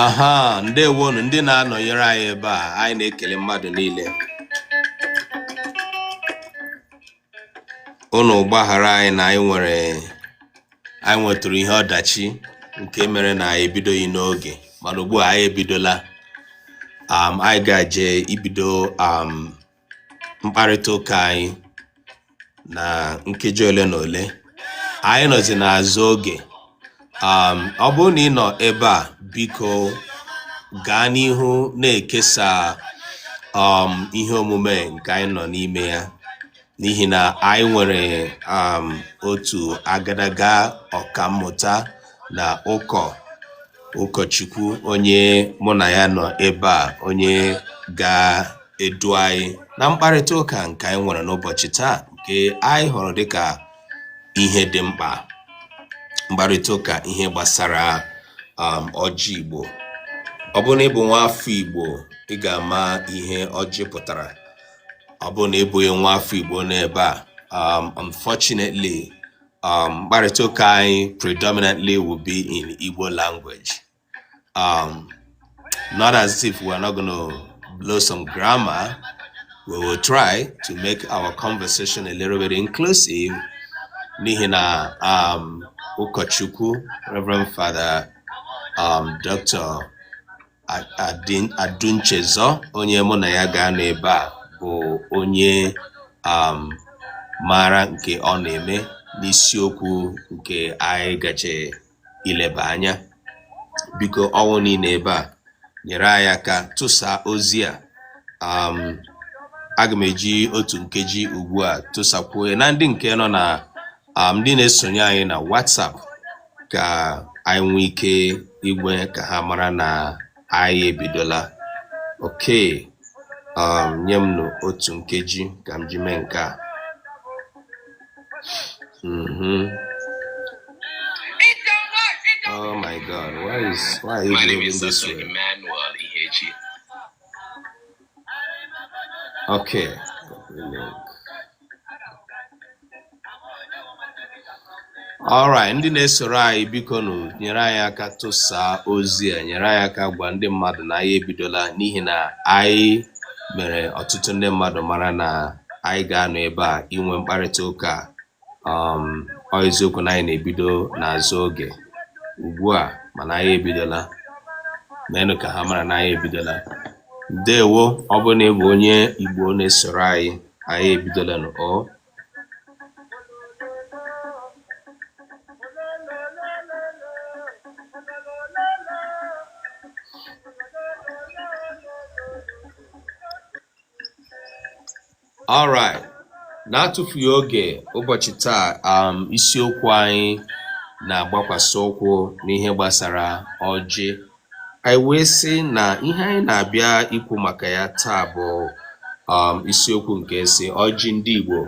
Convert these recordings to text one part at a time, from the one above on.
aha ndewonu ndị na-anọnyere anyị ebe a anyị na-ekele mmadụ niile unu gbaghara anyị na anyị nwere anyị nwetụrụ ihe ọdachi nke mere na anyị ebidoghị n'oge mana ugbu a anyị ebidola um, anyị ga-eje ibido um, mkparịta ụka anyị na nkeji ole na ole anyị nọzi n'azụ oge um, ọ bụrụ na ị nọ ebe a biko gaa n'ihu na-ekesa um, ihe omume nke anyị nọ n'ime ya n'ihi na anyị nwere um, otu agadaga ọkammụta na ụkọ ụkọchukwu onye mụ na ya nọ ebe a onye ga edu anyị na mkparịta ụka nke anyị nwere n'ụbọchị taa nke anyị hụrụ dịka ihe dị mkpa mkparịta ụka ihe gbasara um, ọjị Igbo ọ bụrụ na ị bụ nwa afọ Igbo ị ga-ama ihe ọjị pụtara ọ bụrụ na ị bụghị nwa afọ Igbo n'ebe a um, unfortunately um, mkparịta ụka anyị predominantly will be in Igbo language Um, not as if we're not going to blow some grammar. We will try to make our conversation a little bit inclusive. N'ihi na um, Ụkọchukwu, Reverend Father um, Dr. Adunchezo, onye mụ na ya ga-anọ ebe a bụ onye um, maara nke ọ na-eme n'isiokwu nke anyị ga-eje ileba anya biko ọ bụ na ị nọ ebe a nyere anyị aka tụsa ozi a um, aga m eji otu nkeji ugbu a tụsakwuo ya na ndị nke nọ na um, ndị na-esonye anyị na WhatsApp ka anyị nwee ike ime ka ha mara na anyị ebidola okay um, nye m nụ otu nkeji ka m ji mee nke a mhm. oh my god why is why are you doing this way okay alright ndị na-esoro anyị biko nụ nyere anyị aka tụsaa ozi a nyere anyị aka gwa ndị mmadụ na anyị ebidola n'ihi na anyị mere ọtụtụ ndị mmadụ mara na anyị ga-anọ ebe a inwe mkparịta ụka um ọ eziokwu na anyị na-ebido n'azụ oge ugbu a mana anyị ebidola meenụ ka ha mara na anyị ebidola ndewo ọ bụrụ na ị bụ onye Igbo na-esoro anyị anyị ebidolanụ o alright na-atụfughị oge ụbọchị taa um, isiokwu anyị na-agbakwasị ụkwụ n'ihe gbasara ọjị Anyị wee sị na ihe anyị na-abịa ikwu maka ya taa bụ um, isiokwu nke sị ọjị ndị Igbo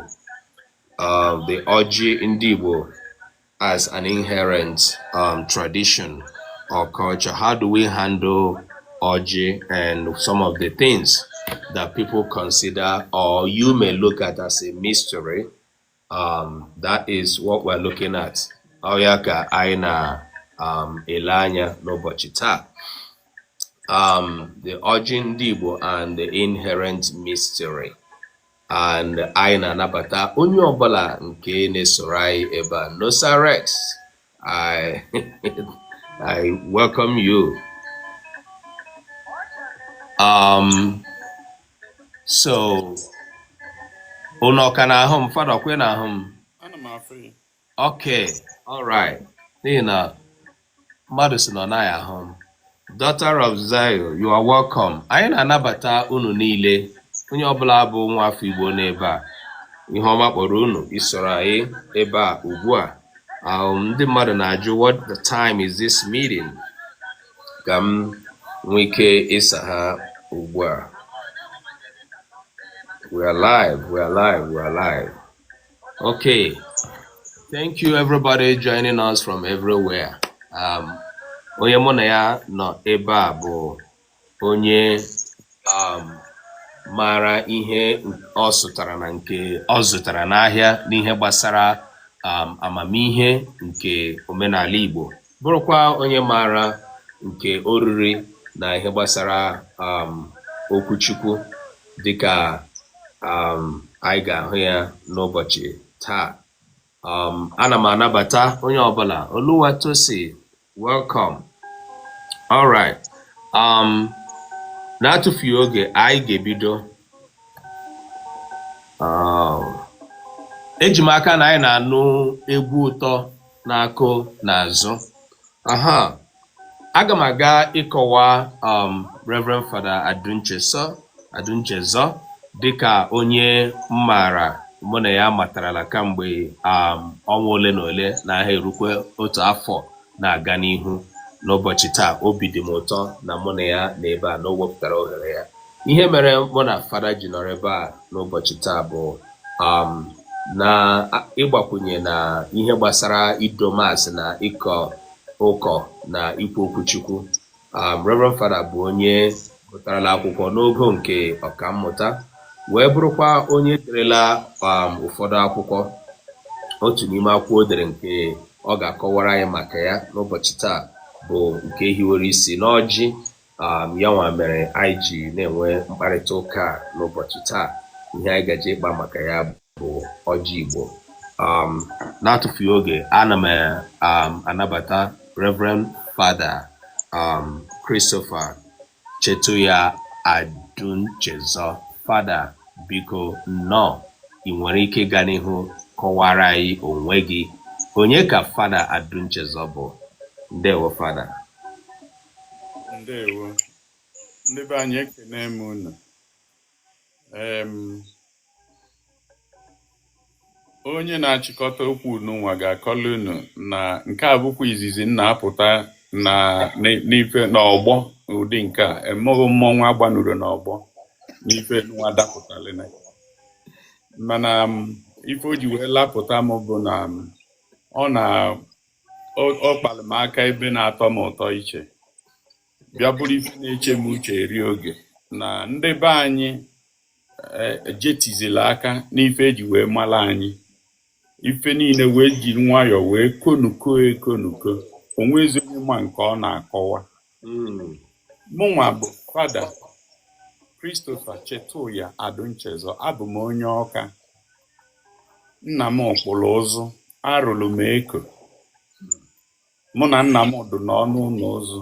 um, the ọjị ndị Igbo as an inherent um, tradition or culture. How do we handle ọjị and some of the things that people consider or you may look at as a mystery um, that is what we're looking at ọ ya ka anyị na-ele um, anya n'ụbọchị taa um, the ọjị ndị Igbo and the inherent mystery and anyị na-anabata onye ọbụla nke na-esoro anyị ebe a Nosa Rex I, I welcome you. Um, so, unu ọ ka na-ahụ m? Fada ọkwa ị na-ahụ m? Ana m afụ gị. Okay, all right. N'ihi na mmadụ sị na ọ naghị ahụ m. Daughter of Zion, you are welcome. Anyị na-anabata unu niile, onye ọbụla bụ nwa afọ Igbo n'ebe a. Ihu ọma kpọrọ unu isoro anyị ebe a ugbu a. Um, ndị mmadụ na-ajụ what the time is this meeting? Ka m nwee ike ịsa ha ugbu a. We are live, we are live, we are live. Okay. Thank you everybody joining us from everywhere. Um, onye mụ na ya nọ ebe a bụ onye um, maara ihe ọ zụtara na nke ọ zụtara n'ahịa n'ihe gbasara um, amamihe nke omenala Igbo bụrụkwa onye maara nke o riri na ihe gbasara um, okwu Chukwu dịka um, anyị ga-ahụ ya n'ụbọchị taa um, ana m anabata onye ọbụla Oluwatosi welcome all right um, na-atụfughị oge anyị ga-ebido um, eji m aka na anyị na-anụ egwu ụtọ na-akụ n'azụ aha aga m aga ịkọwa um, Reverend Fada Ad Adunchezọ dịka onye m maara mụ na ya matarala kamgbe um, ọnwa ole na ole na aha erukwe otu afọ na-aga n'ihu n'ụbọchị taa obi dị m ụtọ na mụ na ya nọ ebe a na o wepụtara ohere ya ihe mere mụ na fada ji nọrọ ebe a n'ụbọchị taa bụ um, na ịgbakwunye na ihe gbasara ido maasị na ịkọ ụkọ na ikwu okwu Chukwu um, Reverend Fada bụ onye gụtarala akwụkwọ n'ogo nke ọkammụta wee bụrụkwa onye derela um, ụfọdụ akwụkwọ otu n'ime akwụkwọ o dere nke ọ ga-akọwara anyị maka ya n'ụbọchị taa bụ nke hiwere isi n'ọjị um, ya nwa mere anyị ji na-enwe mkparịta ụka n'ụbọchị taa ihe anyị gaje ịkpa maka ya bụ ọjị Igbo um, na-atụfughị oge ana m um, anabata Reverend Fada um, Christopher Chetuya Adunchezọ Fada biko nnọọ i nwere ike ịga n'ihu kọwara anyị onwe gị onye ka Fada Adunchezọ bụ ndewo Fada ndewo ndị be anyị ekene m unu Em, onye na-achịkọta okwu nụnwa ga-akọlụ unu na nke a bụkwa izizi m na-apụta na n- n'ife n'ọgbọ ụdị nke a emeghị mmọnwụ agbanuro n'ọgbọ n'ife nụnwa dapụtara na mana m, ife o ji wee lapụta m bụ na m, ọ na ọ kpalụ m aka ebe na-atọ m ụtọ iche bịa bụrụ ife na-eche m uche eri oge na ndị be anyị ejetizirọ aka n'ife e ji wee mara anyị ife niile wee ji nwayọọ wee konuko ekonuko o nwezi onye ma nke ọ na-akọwa hmm. mụnwa bụ fada Christopher Chetuya Adunchezọ abụ m onye Ọka nna m kpụrụ ụzụ arụrụ m eko mụ na nna m dụ n'ọnụ ụnọ ụzụ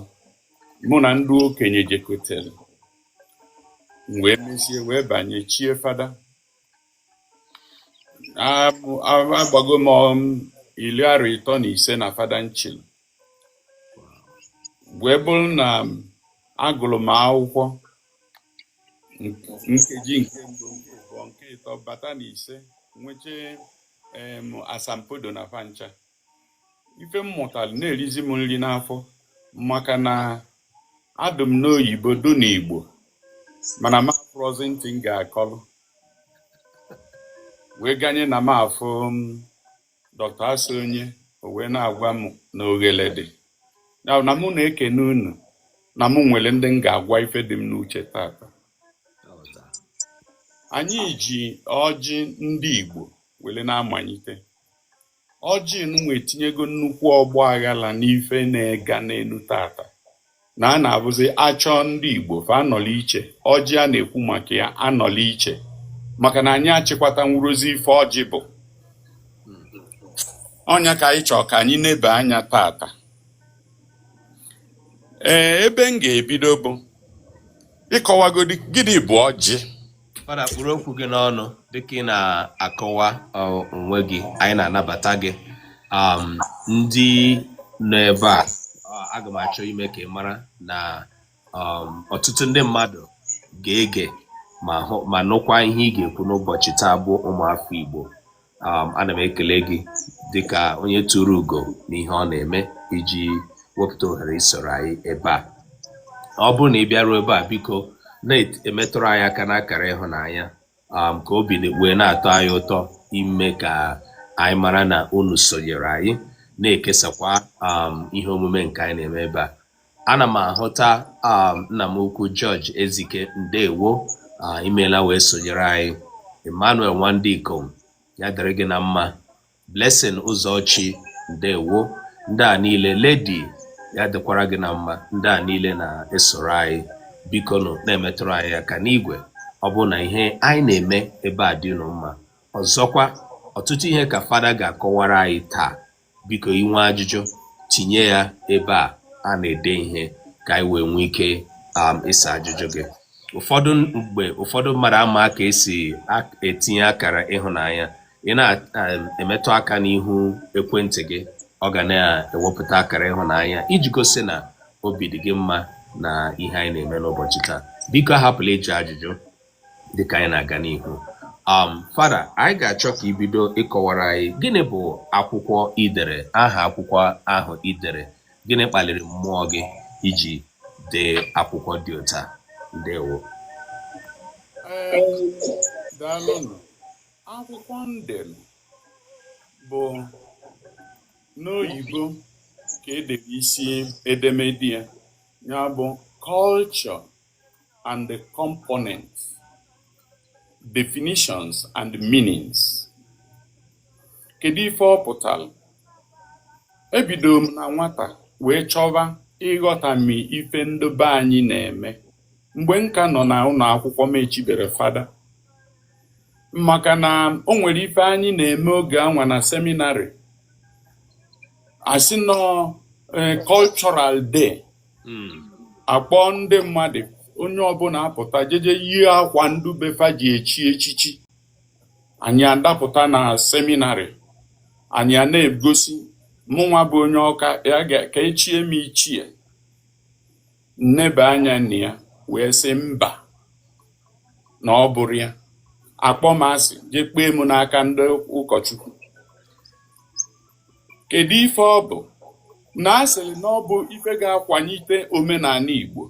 mụ na ndị okenye jekọtelụ m wee mesie wee banye chie fada Abụ- a- agbago m um, ili arọ ịtọ na ise na fada m chili wee bụrụ na agụlụ m akwụkwọ nkeji nke mbụ nke abụọ nke ịtọ bata na ise nweche em asambodo na fa ncha ife m mụtara na-erizi m nri n'afọ maka na adụ m n'oyibo dụ n'igbo mana m afụrọzi ntị m ga-akọlụ wee ganye na m afụ Dr. Asonye o wee na-agwa m na oghele dị na mụ na-ekene unu na mụ nwere ndị m ga-agwa ife dị m n'uche tata anyị ji ọjị ndị Igbo were na-amalite ọjị nwa etinyego nnukwu ọgba aghala n'ife na-ega n'enu tata na a na-abụzi achọọ ndị Igbo fa anọlụ iche ọjị a na-ekwu maka ya anọlụ iche maka na anyị achịkwatanwurozi ife ọjị bụ ọ nya ka anyị chọọ ka anyị neba anya tata ee ebe m ga-ebido bụ ịkọwagodi gịnị bụ ọjị fada kpụrụ okwu gị n'ọnụ dịka ị na-akọwa onwe gị anyị na-anabata gị um, ndị nọ ebe a aga m achọ ime ka ị mara na um, ọtụtụ ndị mmadụ ga-ege ma nụkwa ihe ị ga-ekwu n'ụbọchị taa bụ ụmụafọ Igbo um, ana m ekele gị dịka onye turu ugo n'ihe ọ na-eme iji wepụta ohere isoro anyị ebe a ọ bụrụ na ị bịaruo ebe a biko na-emetụrụ anyị aka n'akara ịhụnanya um, ka obi wee na-atọ anyị ụtọ ime ka anyị mara na unu sonyere anyị na-ekesakwa um, ihe omume nke anyị na-eme ebe a Ana m ahụta um, nna m ukwu George Ezike ndewo ah, imeela wee sonyere anyị Emmanuel Nwandikom ya dịrị gị na mma Blessing Ụzọchi ndewo ndị a niile Lady ya dịkwara gị na mma ndị a niile na-esoro anyị biko nụ na-emetụrụ anyị aka n'igwe ọ bụrụ na ihe anyị na-eme ebe a dị unu mma ọzọkwa ọtụtụ ihe ka fada ga-akọwara anyị taa Biko i nwee ajụjụ, tinye ya ebe a a na-ede ihe ka anyị wee nwee ike um, ịsa ajụjụ gị. Ụfọdụ mgbe ụfọdụ mmadụ ama ka esi etinye akara ịhụnanya. Ị na-emetụ um, aka n'ihu ekwentị gị, ọ ga na-ewepụta akara ịhụnanya iji gosi na obi dị gị mma na ihe anyị na-eme n'ụbọchị taa. Biko ahapụla ịjụ ajụjụ. dịka anyị na-aga n'ihu um fada anyị ga-achọ ka i bido ịkọwara anyị gịnị bụ akwụkwọ i dere aha akwụkwọ ahụ i dere gịnị kpaliri mmụọ gị iji dee akwụkwọ dị otu a ndewo daalụnụ akwụkwọ m dere bụ n'oyibo ka e dere isi edemede ya ya bụ culture and the components, definitions and meanings. Kedu ife ọ pụtalụ? Ebido m na nwata wee chọba ịghọtami ife ndị be anyị na-eme mgbe m ka nọ na ụnọ akwụkwọ m echibere fada maka na o nwere ife anyị na-eme oge anwa na seminarị a sị na ọ eh, cultural day hmm. akpọ ndị mmadụ onye ọbụna apụta jeje yie akwa ndị be fa ji echi echichi anyị adapụta na seminarị anyị a na-egosi mụnwa bụ onye ọka ya ka echie m ichie m neba anya na ya wee sị mba na ọ bụrọ ya akpọọ m asị jee kpee m n'aka ndị ụkọchukwu Kedu ife ọ bụ? Na a sịrị na ọ bụ ife ga-akwanyite omenanị Igbo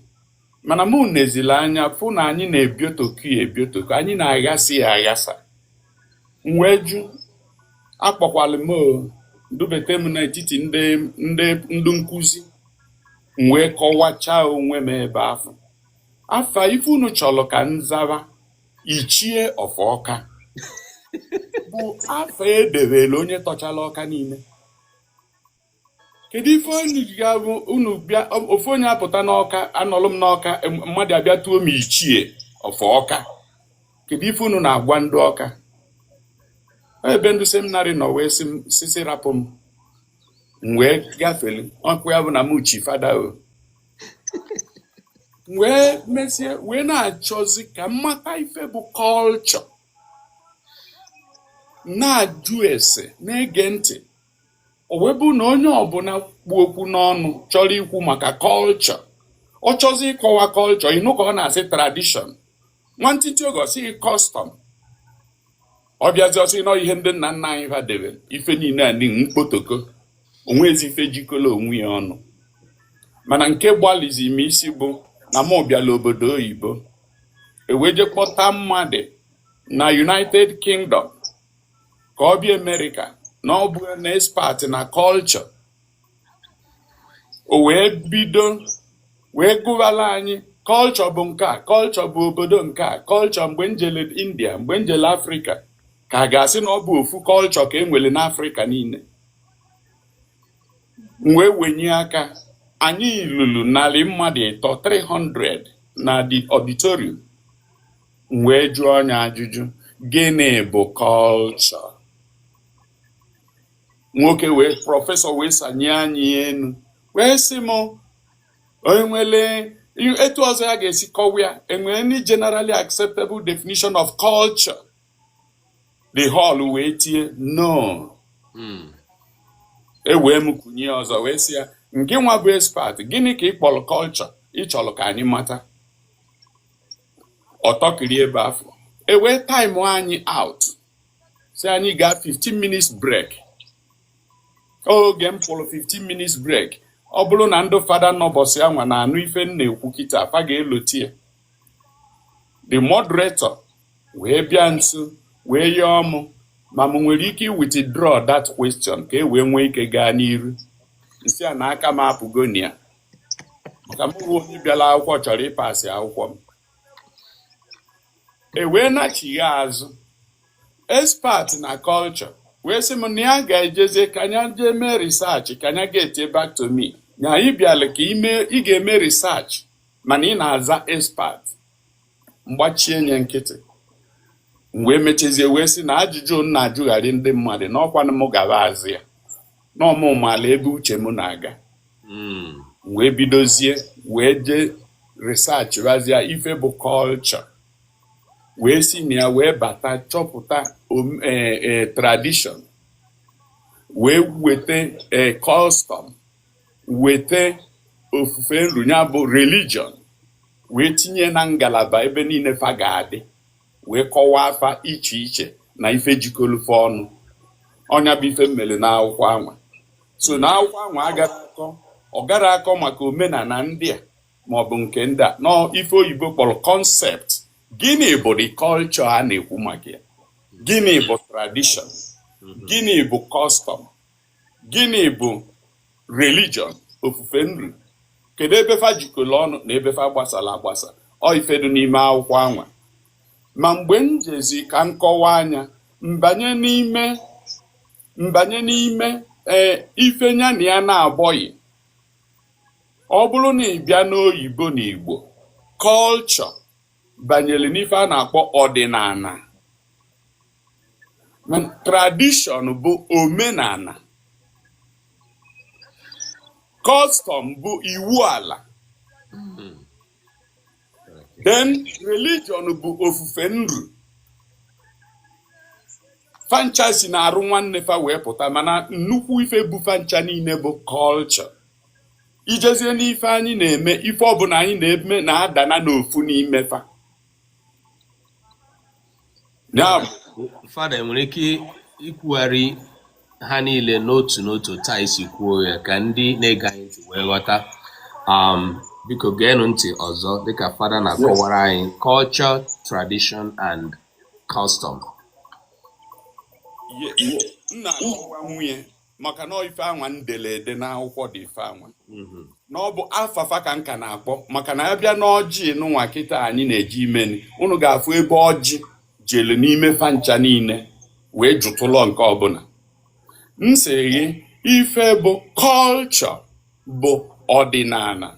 mana mụ neziri anya fụ na anyị na-ebiotoku ya ebiotoku anyị na-aghasa ya aghasa m wee jụ akpọkwalụ m o, dubete m n'etiti ndị nkụzi m wee kọwachaa onwe m ebe afụ afa ife unu chọrọ ka m zaba ichie of ọka bụ afa edebere onye tọchara ọka niile kedu ife unu ji ga-abụ unu bịa ofu onye apụta n'ọka anọlụ m n'ọka em- mmadụ abịa tuo m ichie of ọka kedu ife unu na-agwa ndị ọka ebe ndị seminarị nọ wee si sisi rapụ m m wee gafere ọkụ ya bụ na m chi fada o wee mesie wee na-achọzi ka m mata ife bụ culture na-ajụ ese na-ege ntị o wee bụ na onye ọbụna kpu okwu n'ọnụ chọrọ ikwu maka culture ọ chọzi ịkọwa culture ị nụ ka ọ na-asị tradition nwantịntị oge ọ sị custom ọ bịazi ọ sị na ọ ihe ndị nna nna anyị ha debe ife niile a dị mkpotoko o nwezi ife jikọrọ onwe ya ọnụ mana nke gbalịzi m isi bụ na mụ bịala obodo oyibo e wee je kpọta mmadụ na united kingdom ka ọ bịa amerịka na ọ bụ an expert na culture o wee bido wee gụwara anyị culture bụ nke a culture bụ obodo nke a culture mgbe m jere india mgbe m jere afrịka ka a ga-asị na ọ bụ ofu culture ka e nwere n'afrịka niile m wee wenye aka anyị ruru narị mmadụ ịtọ 300 na the auditorium m wee jụọ ya ajụjụ gịnị bụ culture nwoke wee professor wee sanye anya enu wee sị m enwele etu ọzọ ya ga-esi kọwa ya enwere any generally acceptable definition of culture the hall wee tie no hmm. ewee m kunye ọzọ wee sị ya ngịnwa bụ expert gịnị ka ị kpọrọ culture ị chọrọ ka anyị mata ọ tọkịrị ebe afụ ewee time anyị out sị anyị gaa 15 minutes break oge m pụrụ 15 minutes break ọ bụrụ na ndị fada nọ ụbọsị anwa na-anụ ife m na-ekwu kịtaa fa ga-elota ya the moderator wee bịa nso wee yọọ mụ ma m nwere ike withdraw that question ka e wee nwee ike gaa n'iru m sị ya na aka m apụgo na ya maka m bụ onye bịara akwụkwọ chọrọ ịpasị akwụkwọ m e wee nachigha azụ expert na culture wee sị m na ya ga-ejezie ka nya jee mee research ka nya get back to me nya ị bịala ka ime ị ga-eme research mana ị na-aza expert m gbachie nya nkịtị m wee mechazie wee sị na ajụjụ m na-ajụgharị ndị mmadụ na ọ kwanụ m ga-aza ya na ọ mụ maala ebe uche m na-aga hmm. wee bidozie wee jee research mazie ife bụ culture wee si na ya wee bata chọpụta e, e, tradition wee weta e, custom weta ofufe nru nya bụ religion wee tinye na ngalaba ebe niile fa ga-adị wee kọwaa fa iche iche na ife jikọlụ fa ọnụ ọ nya bụ ife m melụ na akwụkwọ anwa so na akwụkwọ anwa agarọ akọ ọ garọ akọ maka omenala ndị a maọbụ nke ndị a na ọ ife oyibo kpọrọ concept gịnị bụ the culture a na-ekwu maka ya gịnị bụ tradition gịnị bụ custom gịnị bụ religion ofufe nru kedu ebe fa jikọrọ ọnụ na ebe fa gbasara agbasa ọ ife dị n'ime akwụkwọ anwa ma mgbe m jezi ka m kọwaa nya m banye n'ime m banye n'ime ee ife nya na ya na-abụghị ọ bụrụ na ị bịa n'oyibo na igbo culture banyere n'ife a na-akpọ ọdịnala tradition bụ omenala custom bụ iwu ala then religion bụ ofufe nru fa ncha si n'arụ nwanne fa wee pụta mana nnukwu ife bụ fa ncha niile bụ culture i jezie n'ife anyị na-eme ife ọbụla anyị na-eme na-adana n'ofu n'ime fa ya bụ fada i nwere ike ikwugharị ha niile n'otu n'otu otu a i si kwuo ya ka ndị na-ege anyị ntị wee ghọta um, biko geenụ ntị ọzọ dịka fada na-akọwara anyị culture tradition and custom ye- ye- nna akọwa nwunye maka na ife anwa m dele ede n'akwụkwọ dị ife anwa mhm. na ọ bụ afa fa ka m ka na-akpọ maka na a bịa n'ọjị nụnwa kịta anyị na-eji imeni unu ga-afụ ebe ọjị jelu n'ime fa ncha niile wee jụtụlọ nke ọbụla m sị gị ife bụ culture bụ ọdịnala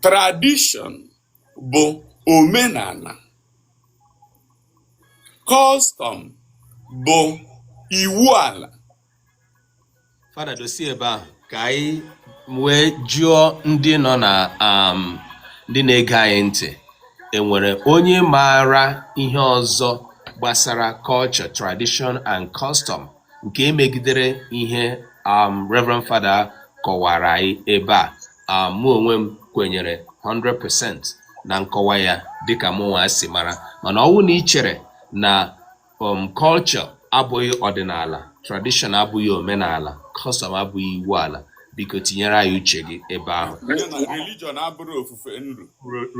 tradition bụ omenala custom bụ iwu ala fada dosi ebe ahụ ka anyị wee jụọ ndị nọ na um, ndị na-ege anyị ntị e nwere onye maara ihe ọzọ gbasara culture tradition and custom nke emegidere ihe um, Reverend Fada kọwara anyị ebe a um, mụ onwe m kwenyere 100% na nkọwa ya dịka mụnwa si mara mana ọ wụ na i chere na um, culture abụghị ọdịnala tradition abụghị omenala custom abụghị iwu ala biko tinyere anyị uche gị ebe ahụ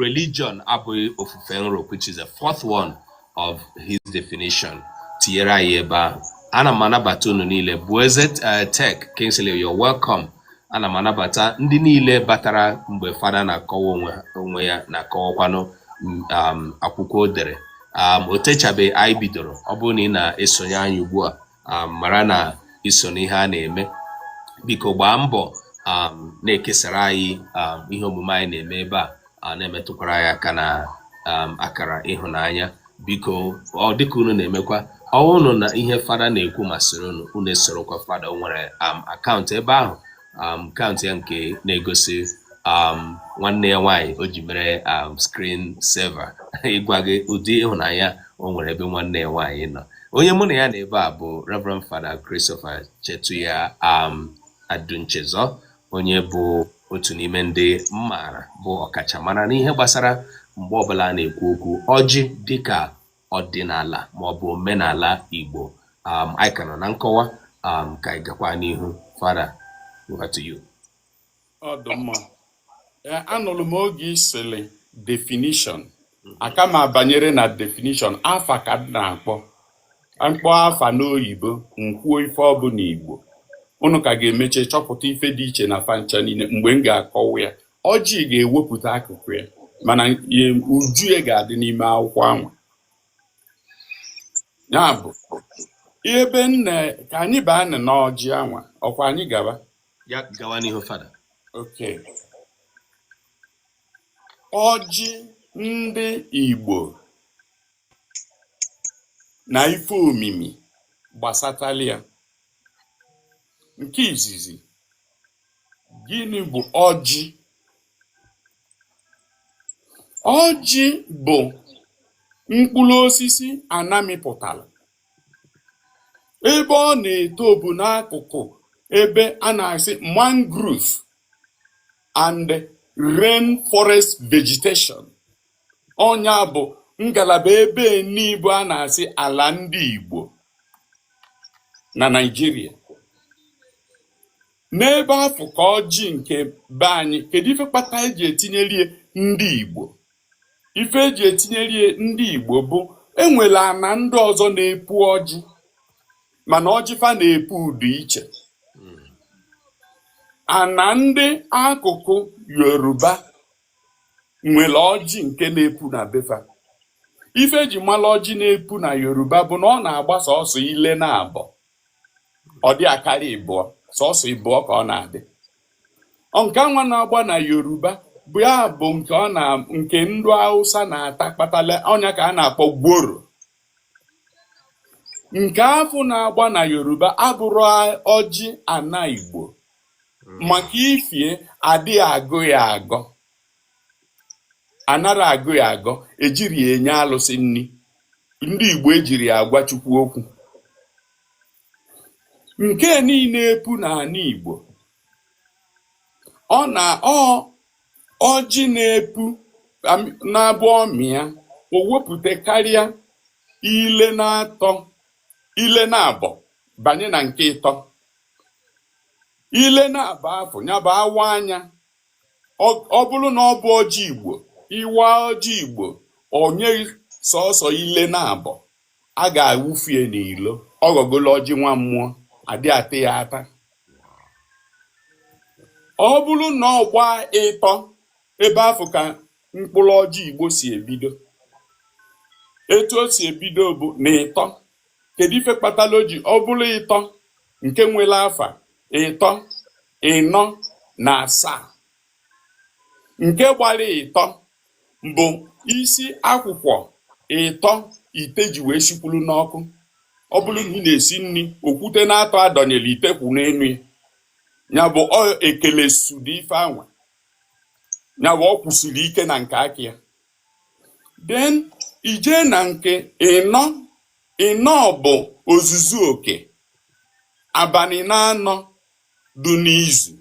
religion abụghị ofufe nru which is the fourth one of his definition tinyere anyị ebe ahụ ana m anabata unu niile Bueze eh, Tech Kingsley you're welcome ana m anabata ndị niile batara mgbe fada na-akọwa onwe ya na-akọwakwanụ mm, um, akwụkwọ o dere um, o techabeghị anyị bidoro ọ bụrụ na ị na-esonye anyị ugbu a um, mara na i so n'ihe a na-eme biko gbaa mbọ um, na-ekesara anyị um, ihe omume anyị na-eme ebe a na-emetụkwara anyị aka na akara ịhụnanya biko ọ dịka unu na-emekwa ọ wụrụ na ihe fada na-ekwu masịrị unu unu esorokwa fada o nwere account ebe ahụ um, account ya nke na-egosi um, nwanne ya nwaanyị o ji mere um, screen saver ịgwa gị ụdị ịhụnanya o nwere ebe nwanne ya nwaanyị nọ onye mụ na ya nọ ebe a bụ Reverend Fada Christopher Chetuya um, Adunchezor onye bụ otu n'ime ndị m maara bụ ọkachamara n'ihe gbasara mgbe ọbụla a na-ekwu okwu ọjị dịka ọdịnala maọbụ omenala Igbo um, anyị ka nọ na nkọwa um, ka anyị gakwa n'ihu fada over to you. ọ dụ mma Ee, anụrụ m oge ị sịlị definition aka m abanyerọ na definition afa ka m na-akpọ m kpọọ afa n'oyibo m kwuo ife ọ bụ n'igbo unu ka ga-emeche chọpụta ife dị iche na fa ncha niile mgbe m ga-akọwa ya ọjị ga-ewepụta akụkụ ya mana uju ya ga-adị n'ime akwụkwọ anwa ya bụ ebe nne ka anyị baa na n'ọjị anwa ọkwa anyị gaba ya gawa n'ihu fada ok ọjị ndị Igbo na ife omimi gbasatalụ ya nke izizi Gịnị bụ ọjị? Ọjị bụ mkpụrụ osisi ana mịpụtara ebe ọ na-eto bụ n'akụkụ ebe a na-asị mangrove and rain forest vegetation ọ nya bụ ngalaba ebe ndị Igbo a na-asị ala ndị Igbo na Naịjirịa N'ebe afụ ka ọjị nke be anyị, kedu ife kpata eji etinyeli ya ndị Igbo? Ife eji etinyeli ya ndị Igbo bụ enwere ana ndị ọzọ na-epu ọjị mana ọjị fa na-epu ụdị iche. Ana ndị akụkụ Yoruba nwere ọjị nke na-epu na be fa. Ife eji mara ọjị na-epu na Yoruba bụ na ọ na-agba sọsọ ile naabọ. ọ dị akarị ịbụọ sọsọ ịbụọ ka ọ na-adị nke anwa na-agba na yoruba bụ ya bụ nke ndị hausa na-ata kpatala ọ nya ka a na-akpọ gworo nke afụ na-agba na yoruba abụrọ ọjị ana igbo maka ifi ya adịghị agọ ya agọ anarọ agọ ya agọ ejirọ ya enye alụsị nni ndị Igbo ejirọ ya agwa Chukwu okwu nke nii na-epu n'ana Igbo na ọjị na-epu na-abụ ọ mịa o wepụta karịa ile naabọ banye na nke ịtọ ile naabọ afụ nya bụ awa anya ọ bụrụ na ọ bụ ọjị Igbo ị waa ọjị Igbo o nye sọsọ ile naabọ a ga-awụfu ya n'ilo ọ ghọgolo ọjị nwa mmụọ adị ata ya ata ọ bụrụ na ọ gbaa ịtọ ebe afụ ka mkpụrụ ọjị Igbo si ebido etu o si ebido bụ na ịtọ kedu ife kpatara o ji ọ bụrụ ịtọ nke nwere afa ịtọ ịnọ na asaa nke gbara ịtọ bụ isi akwụkwa ịtọ ite ji wee sikwuru n'ọkụ ọ bụrụ na ị na-esi nri okwute naatọ a dọnyere ite kwụ n'enu ya nya bụ ọ ekele sudi ife anwa ya bụ ọ kwụsiri ike na nke aka ya Then i je na nke ịnọ ịnọ bụ ozuzu oke abanị naanọ dị n'izu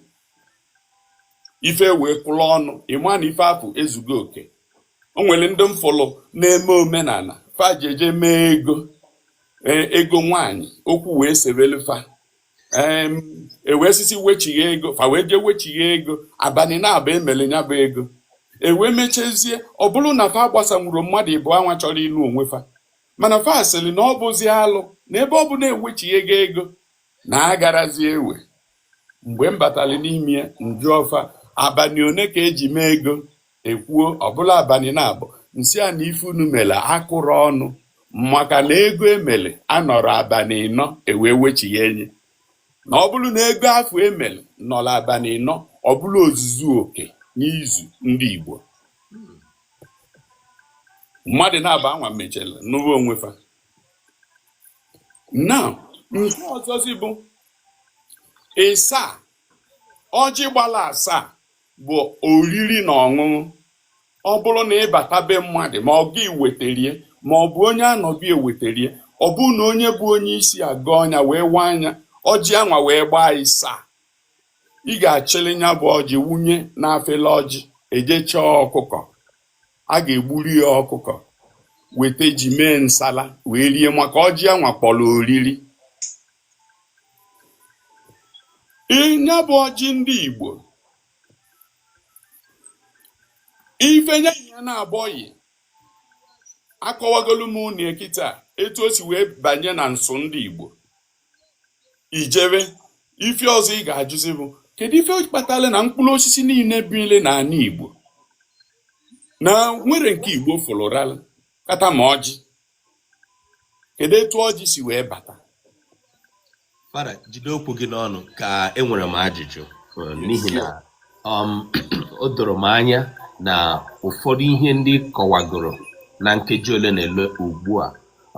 ife wee kwụrụ ọnụ ị ma na ife afụ ezugo oke o nwere ndị m fụlụ na-eme omenana fa jeje mee ego e, ego nwanyị okwu wee sebelu fa e wee sị sị wechigha ego fa wee jee wechigha ego abanị naabọ e mere ya bụ ego e wee mechazie ọ bụrụ na fa agbasanwurọ mmadụ ịbụọ anwa chọrọ ịnụ onwe fa mana fa sịrị na ọ bụzi alụ na ebe ọ bụ na ewechighago ego na agarazi ewe mgbe m batara n'ime m jụọ fa abanị one ka e ji mee ego e kwuo ọ bụrụ abanị naabọ m sị fa na ife unu mere akụrụ ọnụ maka na ego e mere anọrọ abanị ịnọ e wee wechigha nya na ọ bụrụ na ego afụ e mere nọrọ abanị ịnọ ọ bụrụ ozuzu oke n'izu ndị Igbo mmadụ naabọ anwa mechara nụba onwe fa na nke ọzọzi bụ ịsaa ọjị gbara asaa bụ oriri na ọṅụṅụ ọ bụrụ na ị bata be mmadụ ma ọ gị weterie ma ọ bụ onye a nọ be ya weterie ọ bụrụ na onye bụ onye isi agọọ nya wee waa nya ọjị anwa wee gbaa ịsaa ị ga-achịlị nya bụ ọjị wunye n'afele ọjị e jee chọọ ọkụkọ a ga-egburu ya ọkụkọ weta ji mee nsala wee rie maka ọjị anwa kpọrọ oriri nya bụ ọjị ndị Igbo ife nye ya na-abọghị akọwagolu m unu kịta etu o si wee banye na nsọ ndị Igbo i jebe ife ọzọ ị ga-ajụzi bụ kedu ife kpatara na mkpụrụ osisi niine bile n'anị Igbo na e nwere nke Igbo fụlụralụ kata ma ọjị kedu etu ọjị si wee bata Fada jide okwu gị n'ọnụ ka enwere m ajụjụ eh, n'ihi na um, o doro m anya na ụfọdụ ihe ndị ị kọwagoro na nkeji ole na ole ugbu a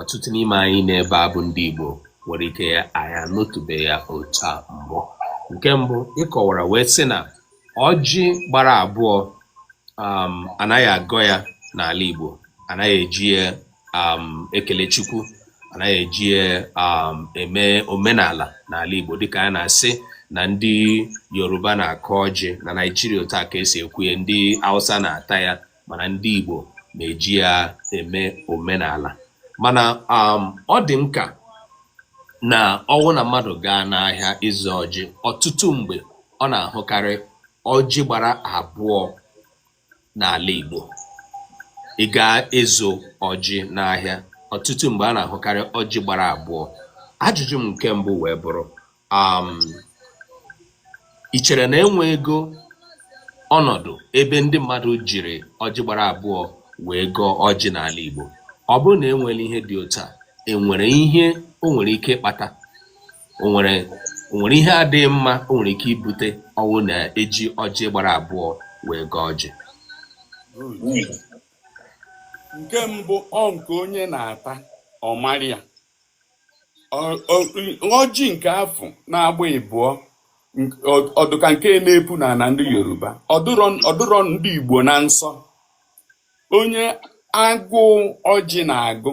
ọtụtụ n'ime anyị n'ebe a bụ ndị Igbo nwere ike ya anyị anụtụbeghị ya otu a mbụ nke mbụ ị kọwara wee sị na ọjị gbara abụọ um, anaghị agọ ya n'ala Igbo anaghị eji ya um, ekele Chukwu anaghị eji ya um, eme omenala n'ala Igbo dịka a na-asị na ndị Yoruba na-akọ ọjị na Naijiria otu a ka esi ekwu ya ndị Hausa na-ata ya mana ndị Igbo na-eji ya eme omenala mana um, ọ dị m ka na ọwụ na mmadụ gaa n'ahịa ịzụ ọjị ọtụtụ mgbe ọ na-ahụkarị ọjị gbara abụọ n'ala Igbo ị gaa ịzụ ọjị n'ahịa ọtụtụ mgbe a na-ahụkarị ọjị gbara abụọ ajụjụ m nke mbụ wee bụrụ um Ì chere na e nweego ọnọdụ ebe ndị mmadụ jiri ọjị gbara abụọ wee gọọ ọjị n'ala Igbo? Ọ bụrụ na e nwere ihe dị otu a, e nwere ihe o nwere ike ịkpata? O nwere o nwere ihe adịghị mma o nwere ike ibute ọ wụrụ na e ji ọjị gbara abụọ wee gọọ ọjị? Nke mbụ ọ nke onye na-ata ọ mara ya. ọjị nke afụ na-agba ịbụọ ọ dụ ka nke na-epu n'ana ndị yoruba ọ dụrọ ndị igbo na nsọ onye agụụ ọjị na-agụ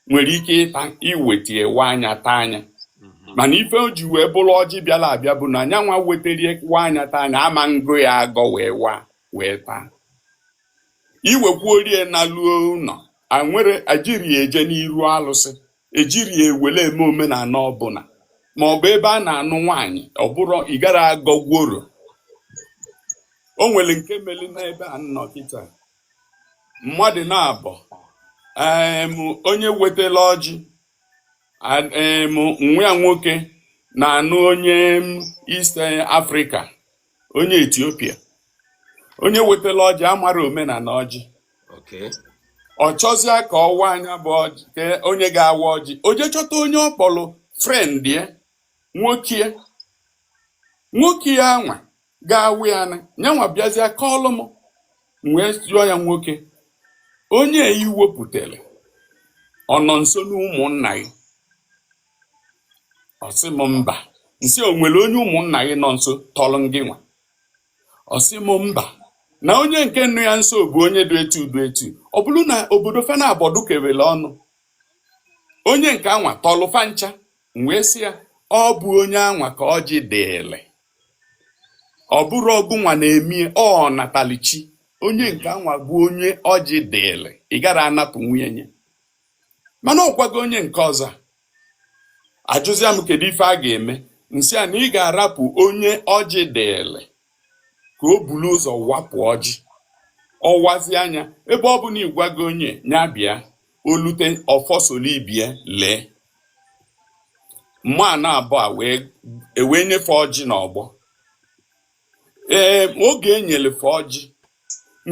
nwere ike ịta i weta ya waa nya taa nya mhm. mana ife o ji wee bụrụ ọjị bịala abịa bụ na anyị nwa wetarie waa nya taa nya ama agọ ya agọ wee waa wee taa i wekwuru ya naluo ụlọ anwere ejirọ ya eje n'iru alụsị ejirọ ya ewere eme omenala ọbụla ma ọ bụ ebe a na-anụ nwaanyị ọ bụrọ ị gara agọ gworo o nwere nke melụ n'ebe a nọ kịta mmadụ naabọ em onye wetela ọjị a- em nwa ya nwoke na-anụ onye m East Africa onye Ethiopia onye wetara ọjị amarọ omenala ọjị ọ chọzịa ka ọ waa nya bụ ọjị ka onye ga-awa ọjị o jee chọta onye ọ kpọrọ friend ya nwoke nwoke ya anwa ga-awa ya na nyanwa bịazịa kọọlụ m wee jụọ ya nwoke onye i wepụtara ọ nọ nso n'ụmụnna gị ọ sị m mba m sị o nwere onye ụmụnna gị nọ nso tọrọ gị nwa ọ sị m mba na onye nke nọ ya nso bụ onye dị etu dị etu ọ bụrụ na obodo fa naabọ dụ kewere ọnụ onye nke anwa tọlụ fa ncha m wee sị ya ọ bụ onye anwa ka ọjị dịịlị ọ bụrụ ọgụ nwa na-emie ọ natalichi onye nke anwa bụ onye ọjị dịịlị ị gara anapụ nwunye nye mana ọ gwago onye nke ọzọ ajụzia m kedu ife a ga-eme m sị a na ị ga-arapụ onye ọjị dịịlị ka o bulu ụzọ wapụ ọjị ọ wazia nya ebe ọ bụ na ị gwago onye nya bịa o lute ọfọsolibie lee mma na abụa e wee nyefe ọjị n'ọgbọ ee oge e nyelu fa ọjị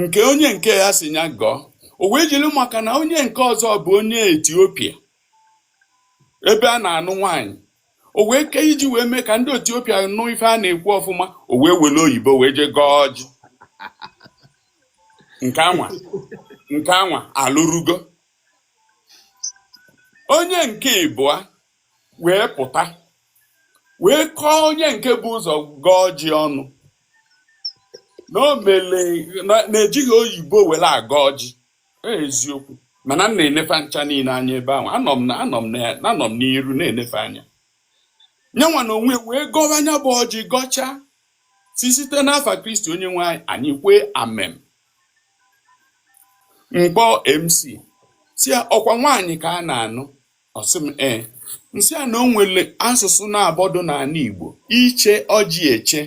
nke onye nke a sị nya gọọ o wee jiri maka na onye nke ọzọ bụ onye etiopia ebe a na-anụ nwaanyị o wee ke iji wee mee ka ndị etiopia nụ ife a na-ekwu ọfụma o wee were oyibo wee jee gọọ ọjị nke anwa nke anwa alụrugo onye nke ịbụa wee pụta wee kọọ onye nke bu ụzọ gọọ ọjị ọnụ na o mele na ejighị oyibo were agọ ọjị Ọ eziokwu mana m na-ene fa ncha niine anya ebe ahụ anọ m na anọ m na anọ m n'iru na-ene fa anya nyanwa na onwe wee gọwa nya bụ ọjị gọchaa sị site n'afa kristi onye nwe anyị anyị kwee amem m kpọọ mc sị ya ọkwa nwaanyị ka a na-anụ Ọ sị m ee. M sị ya na o nwere asụsụ naabọ dị n'ala Igbo iche ọjị eche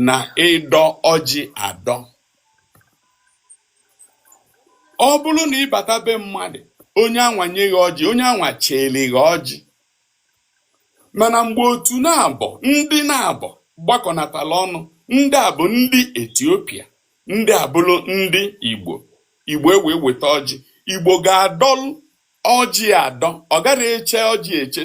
na ịdọ ọjị adọ. Ọ bụrụ na ị bata be mmadụ onye anwa nye gị ọjị onye anwa cheere gị ọjị mana mgbe otu naabọ ndị naabọ gbakọnatara ọnụ ndị a bụ ndị Etiopia ndị a bụrụ ndị Igbo Igbo ewee weta ọjị Igbo ga-adọlụ ọjị adọ ọ gara eche ọjị eche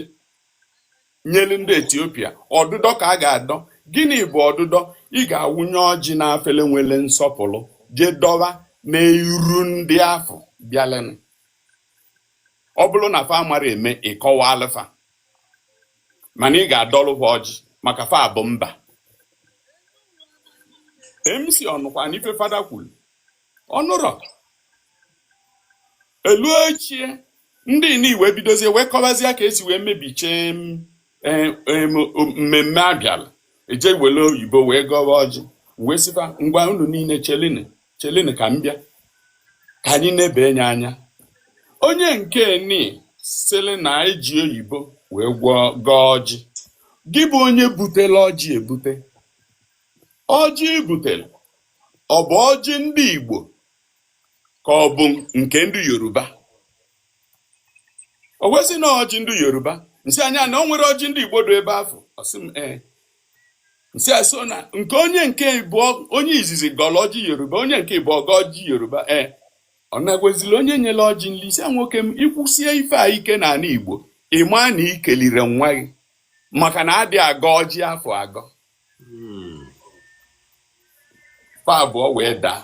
nyelu ndị etiopia ọdụdọ ka a ga-adọ gịnị bụ ọdụdọ ị ga-awụnye ọjị na afele nwere nsọpụrụ jee dọwa n'iru ndị afụ bịalụnụ ọ bụrụ na fa amara eme ị kọwaalụ fa mana ị ga-adọlụ ha ọjị maka fa bụ mba mc ọ nụkwana ife fada kwuru ọ nụrọ elu ochie ndị ini wee bidozie wee kọbazie ka e si wee mebichaa m, eh, em, o- mmemme a bịala e jee wele oyibo wee gọwa ọjị wee sị fa ngwa unu niile chelini chelini ka m bịa ka anyị nebenye anya onye nke ni sịrị na eji oyibo wee gwọọ gọọ ọjị gị bụ onye butela ọjị ebute ọjị i butere ọ bụ ọjị ndị igbo ka ọ bụ nke ndị yoruba o wee sị na ọjị ndị yoruba m sị anya na o nwere ọjị ndị igbo dị ebe afụ ọ sị m ee m sị a so na nke onye nke bụ onye izizi gọlọ ọjị yoruba onye nke ịbụọ gọọ ọjị yoruba ee ọ nagwezili onye nyere ọjị nri sị a nwoke m ị kwusie ife a ike n'ana igbo ị ma na ikelirọ nwa gị maka na adị agọ ọjị afụ agọ fa abụọ wee daa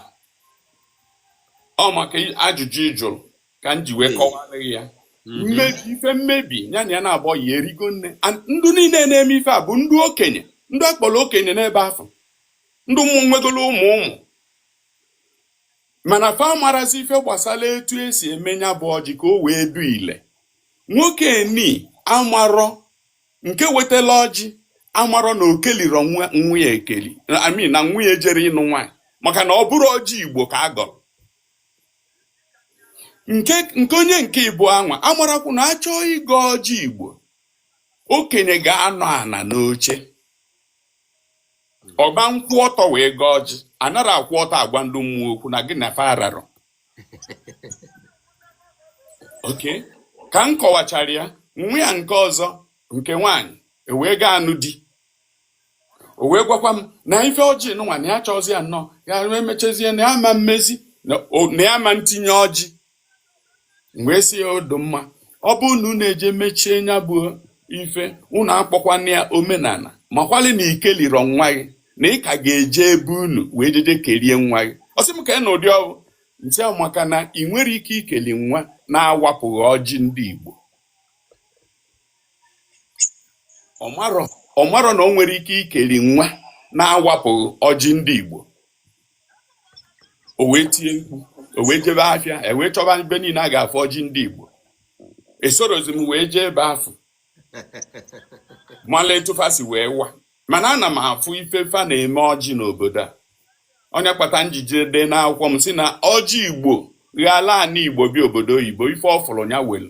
ọ maka ajụjụ ị jụrụ ka m ji wee hmm. kọwara ya hmm. mmebi ife mmebi ya na ya na-abọ ya erigo nne ndị niile na-eme ife a bụ ndị okenye ndị akpọrọ okenye n'ebe afụ ndị ụmụ nwegolo ụmụ ụmụ mana fa amarazi ife gbasara etu esi eme nya bụ ọjị ka o wee dị ile nwoke ni amarọ nke wetala ọjị amarọ na okelirọ nwa ya ekeli i mean na nwa ya ejerọ ịnụ nwaanyị maka na ọ bụrọ ọjị igbo ka a gọrọ nke nke onye nke ịbụa nwa amarakwu na a chọọ ịgọ ọjị igbo okenye ga-anọ ana n'oche ọ gba nkwụ ọtọ wee gọọ ọjị anarọ akwụ ọtọ agwa ndị mmụọ okwu na gị na fa ararọ okay ka m kọwachara ya nwa ya nke ọzọ nke nwaanyị e wee ga-anụ di o wee gwakwa m na ife ọjị nụnwa na ya chọzi ya nnọọ ya emechazie na ya ma mmezi na ya ma ntinye ọjị m wee sị ya ọ dị mma ọ bụrụ na unu eje mechie nya bụ ife unu akpọkwana ya omenana makwali na ikelirọ nwa gị na ị ka ga-eje ebe unu wee jeje kerie nwa gị ọ sị m kee nụ ụdị ọ bụ m sị a maka na i nwerọ ike ikeli nwa na-awapụghị ọjị ndị Igbo ọ marọ ọ marọ na o nwerọ ike ikeli nwa na-awapụghị ọjị ndị Igbo o wee tie mkpu o wee jebe afịa wee chọba ebe niile a ga-afụ ọjị ndị Igbo esorọzi m wee jee ebe afụ mala etu fa si wee waa mana ana m afụ ife fa na-eme ọjị n'obodo a ọ nya kpata m ji je dee n'akwụkwọ m sị na ọjị igbo ghala ana igbo bịa obodo oyibo ife ọ fụrụ nya welu